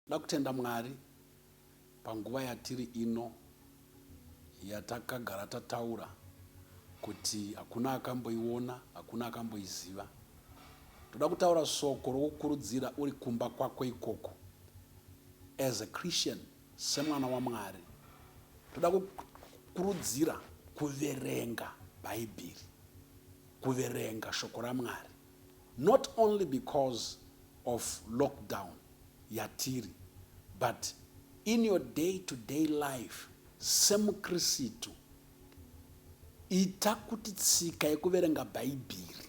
Ndoda kutenda Mwari panguva yatiri ino yatakagara tataura kuti hakuna akamboiona, hakuna akamboiziva. Ndoda kutaura soko rokukurudzira uri kumba kwako ikoko as a Christian. Semwana waMwari, toda kukurudzira kuverenga Bhaibheri, kuverenga Shoko raMwari, not only because of lockdown yatiri, but in your day to day life semuKristu, ita kuti tsika yekuverenga Bhaibheri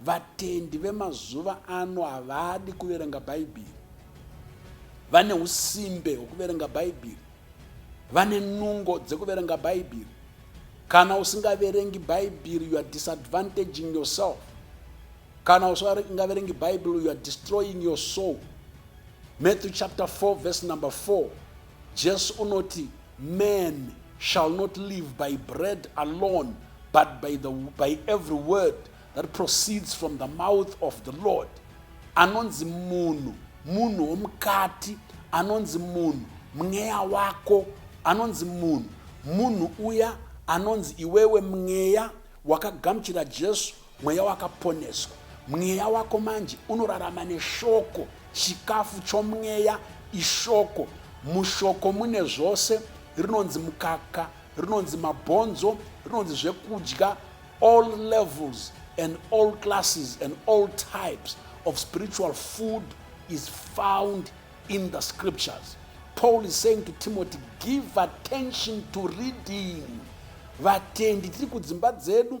Vatendi vemazuva ano havadi kuverenga Bhaibheri. Vane usimbe hwekuverenga Bhaibheri. Vane nungo dzekuverenga Bhaibheri. Kana usingaverengi Bhaibheri, you are disadvantaging yourself. Kana usingaverengi Bhaibheri, you are destroying your soul. Matthew chapter 4 verse number 4 Jesu unoti man shall not live by bread alone but by, the, by every word that proceeds from the mouth of the Lord. Anonzi munhu, munhu womukati, anonzi munhu, mweya wako, anonzi munhu, munhu uya anonzi iwewe mweya wakagamuchira Jesu Mweya wakaponeswa. Mweya wako manje unorarama neshoko, chikafu chomweya ishoko. Mushoko mune zvose, rinonzi mukaka, rinonzi mabhonzo, rinonzi zvekudya, all levels and all classes and all types of spiritual food is found in the scriptures. Paul is saying to Timothy, give attention to reading. Vatendi tiri kudzimba dzedu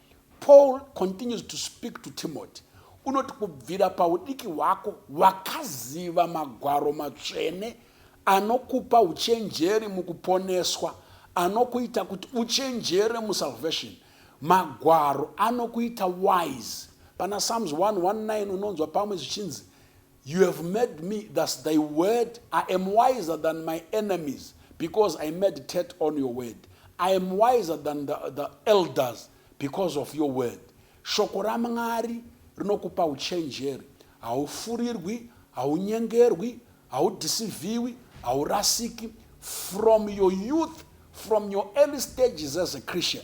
Paul continues to speak to Timothy unoti kubvira paudiki hwako wakaziva magwaro matsvene anokupa uchenjeri mukuponeswa anokuita kuti uchenjere musalvation magwaro anokuita wise pana psalms 119 unonzwa pamwe zvichinzi You have made me, thus thy word, I am wiser than my enemies, because I meditate on your word. I am wiser than the, the elders because of your word. Shoko raMwari rinokupa uchenjeri. Haufurirwi, haunyengerwi, haudhisivhiwi, haurasiki. From your youth, from your early stages as a Christian,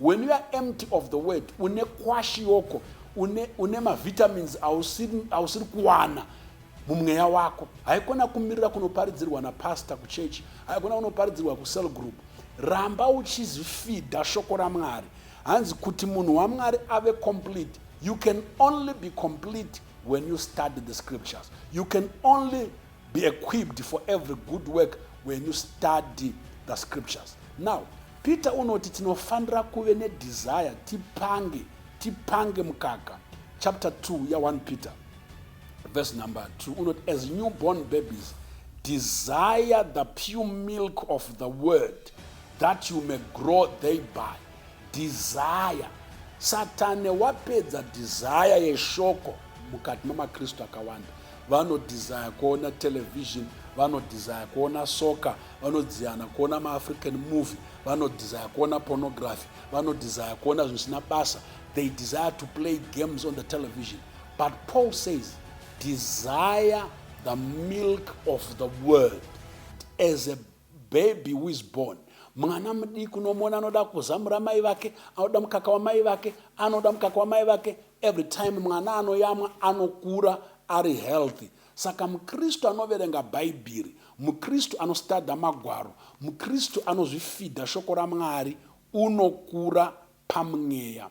When you are empty of the word, une kwashi yoko, une, une mavitamins ausiri, ausiri kuwana mumweya wako. Haikona kumirira kunoparidzirwa napastor kuchechi, haikona kunoparidzirwa kucell group. Ramba uchizifidha shoko raMwari. Hanzi kuti munhu waMwari ave complete, you can only be complete when you study the scriptures. You can only Be equipped for every good work when you study the scriptures. Now, Peter unoti tinofanira kuve nedesire tipange tipange mukaka chapter 2 ya 1 Peter verse number 2 unoti as newborn babies desire the pure milk of the word that you may grow thereby desire satani wapedza desire yeshoko mukati memakristu akawanda vanodesire kuona television vanodesire kuona soccer vanodziana kuona maafrican movie vanodesire kuona pornography vanodesire kuona zvisina basa they desire to play games on the television but paul says desire the milk of the world as a Baby who is born mwana mudiki unomona anoda kuzamura mai vake anoda mukaka wamai vake anoda mukaka wamai vake every time mwana anoyamwa anokura ari healthy saka mukristu anoverenga bhaibheri mukristu anostadha magwaro mukristu anozvifidha shoko ramwari unokura pamweya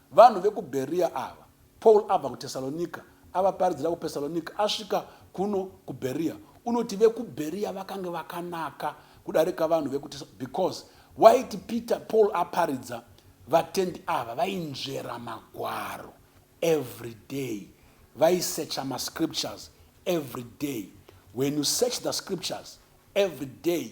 Vanhu vekuBheriya ava. Paul abva kuTesalonika, avaparidzira kuPesalonika, asvika kuno kuBheriya. Unoti vekuBheriya vakange vakanaka kudarika vanhu vekuTesalonika because waiti Peter, Paul aparidza, vatendi ava vainzvera magwaro every day, vaisecha mascriptures every day. When you search the scriptures every day,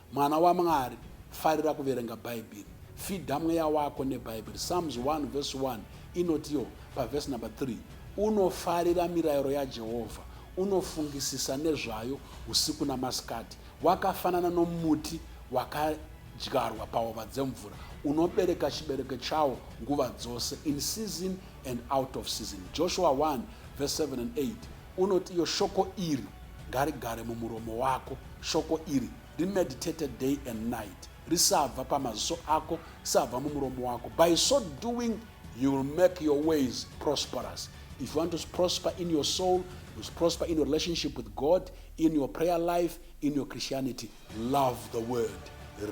Mwana waMwari, farira kuverenga Bhaibheri. Fidha mweya wako neBhaibheri. Psalms 1 vhesi 1 inotiwo pavhesi number 3, Unofarira mirayiro yaJehovha, unofungisisa nezvayo usiku namasikati. Wakafanana nomuti wakadyarwa pahova dzemvura, unobereka chibereko chawo nguva dzose, in season and out of season. Joshua 1 vhesi 7 and 8 Unoti iyo shoko iri ngarigare mumuromo wako, shoko iri rimeditate day and night, risabva pamaziso ako, risabva mumuromo wako. By so doing you will make your ways prosperous. If you want to prosper in your soul, you prosper in your relationship with God, in your prayer life, in your Christianity, love the word,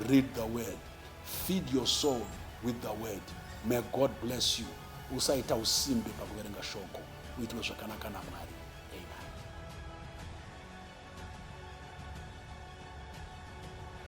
read the word, feed your soul with the word. May God bless you. Usaita usimbe pakuverenga shoko. uitwe zvakanaka namwari amen